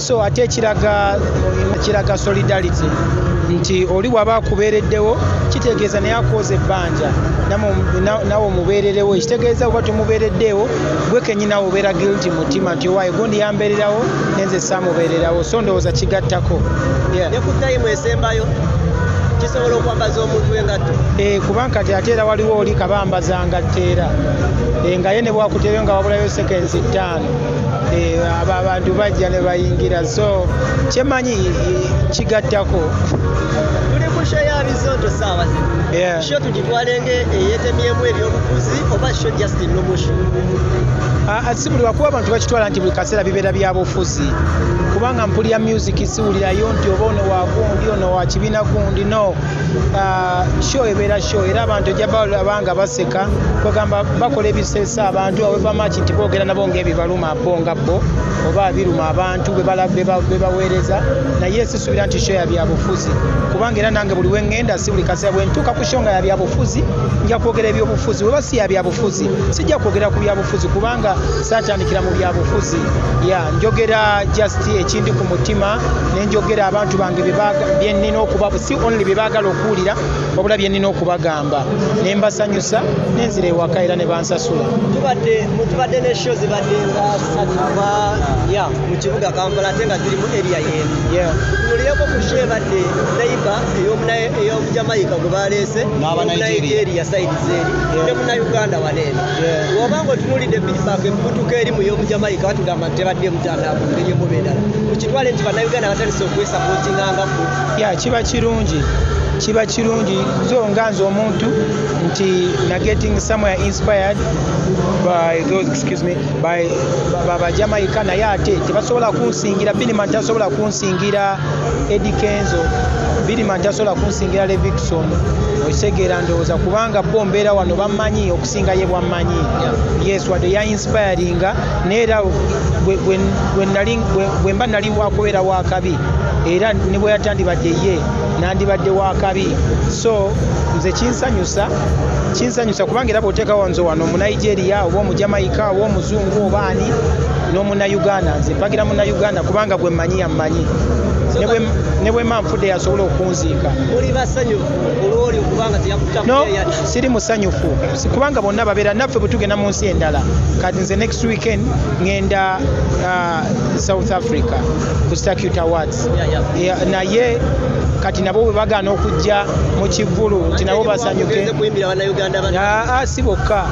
so ate ekiraga kiraga solidarity nti oli waba akubeereddewo kitegeeza naye akwoza ebbanja nawe omubeererewo ekitegeeza oba tomubeereddeewo gwe kenyi nawe obeera guilty mu ttima nti owaye gundi yambeererawo nenze saamubeererawo so ndowooza kigattako nekutayimu esembayo kisobola okwambaza omuntu engatto eh, kuba nkati ate era waliwo oli kabambaza ngatteera eh, ngaye ne bwakuteereyo nga wabulayo sekensi ttaano eh, abo abantu bajja ne bayingira so kyemanyi kigattako ah, ah, si buli wakuba abantu bakitwala nti buli kaseera bibeera byabufuzi kubanga mpulira music siwulirayo nti oba ono wagundi ono wakibiina gundi no show ebeera show era abantu ojja babanga baseka kwegamba bakola ebiseesa abantu awebamaki nti boogera nabo ngaebibaluma bo nga bo oba abiruma abantu bebaweereza naye sisuubira nti show yabyabufuzi kubanga era nange buli wengenda si buli kaseera bwentuuka ku show nga yabyabufuzi nja kwogera ebyobufuzi weba si yabyabufuzi sijja kwogera ku byabufuzi kubanga satandikira mu byabufuzi ya njogera just ekindi ku mutima nenjogera abantu bange byenina okuba si only bye baagala okuwulira wabula bye nnina okubagamba ne mbasanyusa ne nzira ewaka era ne bansasula tubadde ne sho zibadde nga satuba ya mu kibuga kampala ate nga ziri mu eria yeemu tunulieko ku sho ebadde naiba ey'omujamayika gwe baleese nigeria saidi zeeri ne munauganda waneeno woba nga otunulidde feedback emubutuka eri mu y'omujamayika batugamba nti tebadde emutandaabu ngenye mubeerala mukitwale nti bannayuganda batandise okwesapotingangako ya kiba kirungi kiba kirungi nze nga nze omuntu nti na getting somewhere inspired by those excuse me by baba jamaica naye ate tebasobola kunsingira biniman tasobola kunsingira edi kenzo biniman tasobola kunsingira levixon okitegeera ndowooza kubanga bo mbeera wano bamanyi okusinga ye bwammanyi yes wadde ya inspiringa naye era bwe mba nali wakubeera wakabi era ne bwe yatandibadde ye nandibadde wakabi so nze kinsanyusa kinsanyusa kubanga era bwoteekawo nze wano omunigeria oba omujamaika oba omuzungu oba ani n'omunauganda nze mpagira munauganda kubanga gwe mmanyi yammanyi ne bwe manfudde yasobola okunziika siri musanyufu kubanga bonna babeera naffe bwe tugenda mu nsi endala kati nze next weekend ngenda uh, south africa ku stacute awards naye kati nabo bwe bagaana okujja mu kivulu nti nabo basanyuke ah, ah, si bokka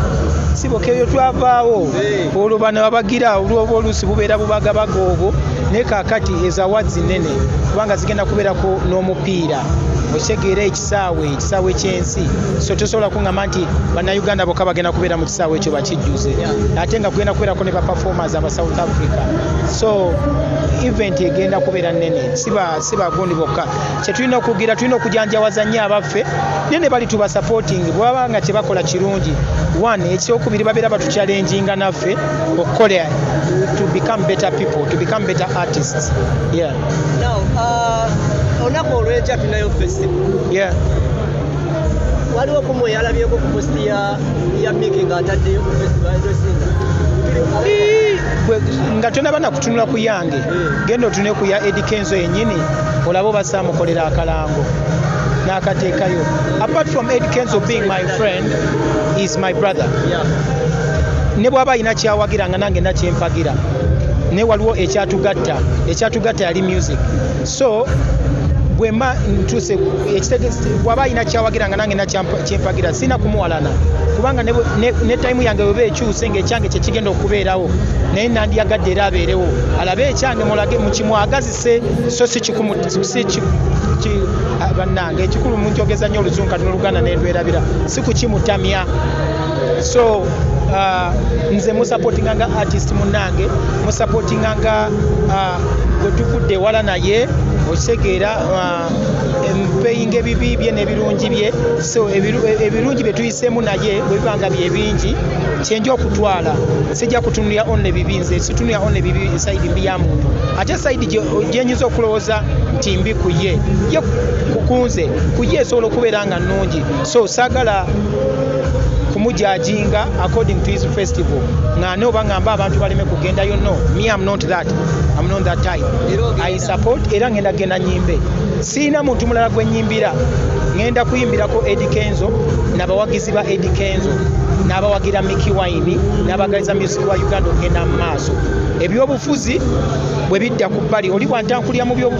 si bokka ebyo twavaawo olwo bano babagira olwoba oluusi bubeera bubagabaga obwo naye kakati ezawadzi nene kubanga zigenda kubeerako n'omupiira okitegeera kisaawe ekisaawe kyensi so tosobola kungamba nti bannayuganda bokka bagenda kubeera mu kisaawe ekyo bakijjuze ate nga kugenda kubeerako ne baperformers aba south africa so event egenda kubeera nnene si bagundi bokka kyetulina okugira tulina okujanjawaza nnyo abaffe naye ne bali tuba supporting bwebaba nga kyebakola kirungi one ekyokubiri babeera batuchallenginga naffe okukola to become better people to become better artists yeah. Now, uh, olunaku olw'enkya tulinayo festival. Yeah. Waliwo ku mwe yalabyeko ku post ya ya Mickey ng'ataddeyo ku festival ezosinga. Ii, gwe- nga tonaba nakutunula ku yange Mm. genda otune ku ya Eddy Kenzo yenyini olaba oba saamukolera akalango n'akateekayo apart from Eddy Kenzo being my friend is my brother Yeah. ne bw'aba alina kyawagira nga nange nakyempagira naye waliwo ekyatugatta ekyatugatta yali music so bwemba ntuse waba alina kyawagira nga nange nakyempagira sirina kumuwalana kubanga ne tayimu yange weba ekyuse nga ekyange kyekigenda okubeerawo naye nandiyagadde era abeerewo alabe ekyange mulage mukimwagazise so sikikumubanange ekikulu munjogeza nnyo oluzungu kati noluganda nerwerabira sikukimutamya so uh, nze musapotinga nga artist munange musapotinga nga uh, gwetuvudde ewala naye okitegeera uh, mpeyinga ebibi bye n'ebirungi bye so e, ebirungi bye tuyiseemu naye bwebiba nga bye bingi kyenja okutwala sijja kutunulira only bibi nze situnulira only bibi esaidi mbi ya muntu ate esaidi gyenyinza okulowooza nti mbi ku ye ye kukunze ku ye esobola okubeera nga nnungi so saagala kumujajinga according to his festival ng'ane oba ng'amba abantu baleme kugendayo no me am not that am not that type i support era ngenda genda nyimbe siina muntu mulala gwe nyimbira ngenda kuyimbirako edi kenzo nabawagizi ba edi kenzo n'abawagira miki wayini n'abagaliza music wa uganda okugenda mu maaso ebyobufuzi bwe bidda ku bbali oli bwantankulira mu byobu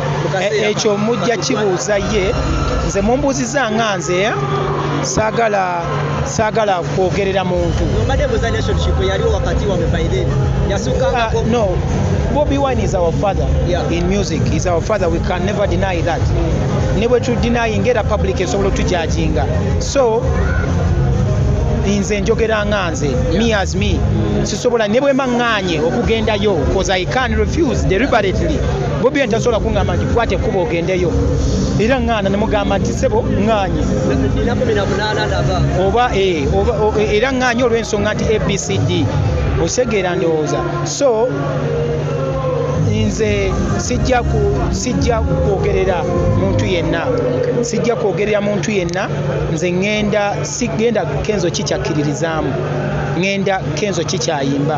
E, ekyo mujja kibuuza ye nze mumbuuziza nga nze eh? sagala sagala kwogerera muntu ah, no bobi wine is our father yeah. in music is our father we can never deny that ne bwe tudenying era public esobola otujajinga so nze njogera nga nze me as me sisobola ne bwe maŋŋaanye okugendayo bcause i can refuse deliberately bobi wine tasobola kuŋŋamba nti kwata ekkuba ogendeyo era ŋŋaana ne mugamba nti sebo ŋŋaanye oba eh, eh, era ŋŋaanye olw'ensonga nti abcd osegeera ndowooza so nze sijja sijja kwogerera muntu yenna sijja kwogerera muntu yenna nze ŋŋenda sigenda kenzo kikyakkiririzaamu ŋŋenda kenzo kikyayimba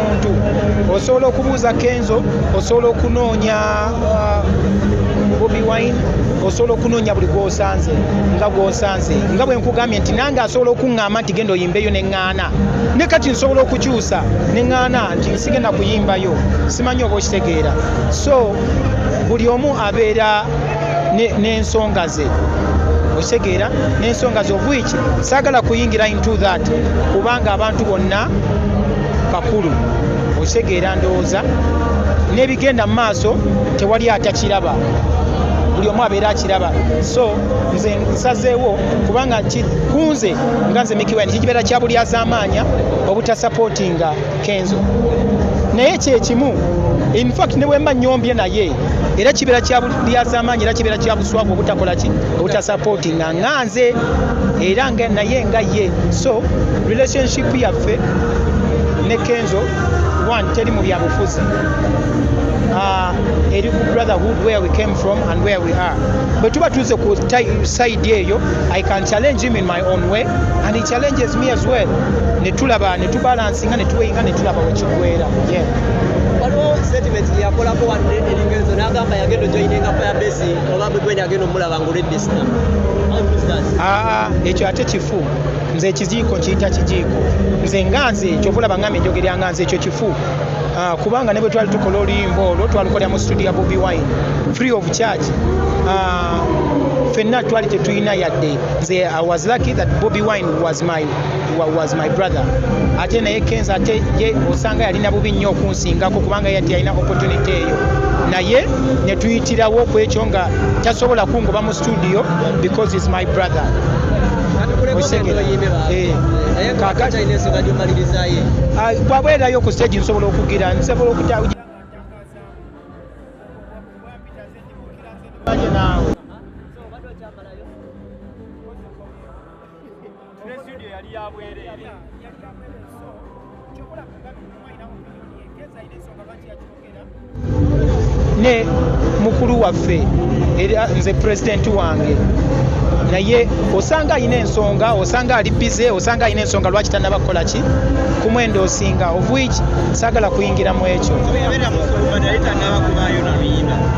muntu osobola okubuuza kenzo osobola okunoonya uh, bobi wine osobola okunoonya buli gwosanze nga gwosanze nga bwe nkugambye nti nange asobola okuŋŋamba nti genda oyimbeyo ne ŋŋaana ne kati nsobola okukyusa ne ŋŋaana nti nsigenda kuyimbayo simanyi oba okitegeera so buli omu abeera n'ensonga ze okitegeera n'ensonga ze obwiki saagala kuyingira into that kubanga abantu bonna kakulu okitegeera ndowooza n'ebigenda mu maaso tewali atakiraba buli omu abeera akiraba so nze nsazeewo kubanga kunze nga nze mikiwani kikibeera kya buli azamaanya obutasapootinga kenzo naye kyekimu infact ne bwemba nyombye naye era kibeera kya buli azamaanya era kibeera kya buswavu obutakola ki obutasapootinga nga nze era nga naye nga ye so relationship yaffe ne kenzo one teri mu byabufuzi ah, eri ku brotherhood where we came from and where we are bwe tuba tuze ku side eyo i can challenge him in my own way and he challenges me as well ne tulaba ne tubalansinga ne tuweyinga ne tulaba wekigwera yeah waliwo statement yakolako wadde eringezo n'agamba yagenda ojoyinenga fire base oba bwegwenda agenda omulaba Ah, ekyo ate kifu nze ekiziiko kiyita kijiiko nze nga nze kyova olaba ngamba enjogera nga nze ekyo kifu ah, kubanga ne bwe twali tukola oluyimba olwo twalukolera mu studio ya bobi wine free of charge ah, fenna twali tetulina yadde nze i was lucky that bobi wine was my was my brother ate naye kenza ate ye osanga yalina bubi nnyo okunsingako kubanga yati yalina opportunity eyo naye netuyitirawo ku ekyo nga tasobola kungoba mu studio because is my brother eh, ah, bwabwerayo ku stage nsobola okugira nsobola okuta ne studio yali ya bwereere ne mukulu waffe era nze pulezidenti wange naye osanga alina ensonga osanga ali bize osanga alina ensonga lwaki tanaba kukola ki ku mwendo osinga of which sagala kuyingira mu ekyo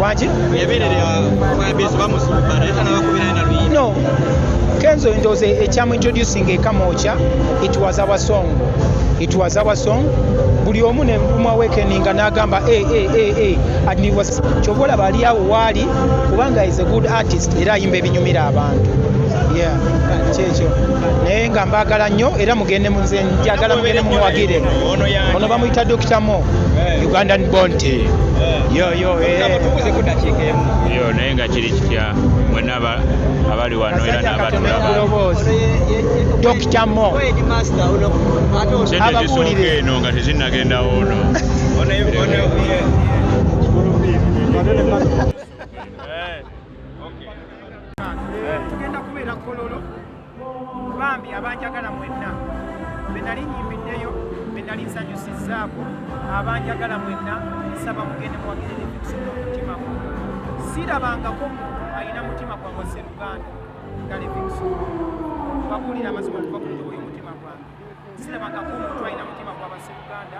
waki Kenzo ndoze ekyamu introducing ekamocha it was our song it was our song buli omu ne mvuma wekeninga n'agamba a eh, a eh, a eh, a and it was kyova olaba ali awo waali kubanga is a good artist era ayimba ebinyumira abantu yeah kyekyo naye nga mbaagala nnyo era mugende munze njagala mugende mumuwagire ono bamuyita dokita mo eh. ugandan bonte eh. yoyo eh. naye nga kiri kitya abali wano era n'abatulaba dokita mo ababuulire eno nga tezinnagendawo ono bambi abanjagala mwenna benali nyimbiddeyo benali nsanyusizzaako abanjagala mwenna nsaba mugende muwagirire ebikusoma omutima gwo sirabangako muntu alina mutima gwangwa seruganda nga levinson babuulira amazima okuva ku njobo y'omutima gwange sirabangako omuntu alina mutima gwa baseruganda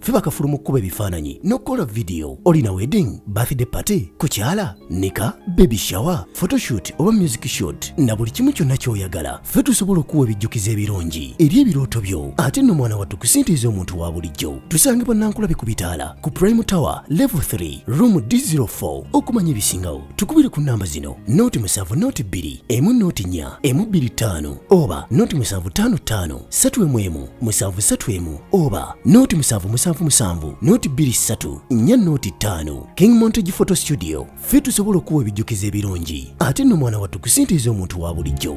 ffe bakafulu mu kkuba ebifaananyi n'okukola vidiyo olina wedding birthday party kukyala nika baby shower photoshoot oba music shot na buli kimu kyonna ky'oyagala ffe tusobola okuwa ebijjukizo ebirungi eri ebirooto byo ate nno mwana wattu kusintiiza omuntu wa bulijjo tusange bannankulabe ku bitaala ku prime tower level 3 room d04 okumanya ebisingawo tukubire ku nnamba zino nooti musanvu nooti bbiri emu nooti nnya emu bbiri ttaano oba nooti musanvu ttaano ttaano satu emu emu musanvu satu emu oba nooti musanvu musanvu musanvu nooti bbiri ssatu nnya nooti ttaano king montage photo studio ffe tusobola okuwa ebijjukizo ebirungi ate nno mwana wattu kusintiiza omuntu wa bulijjo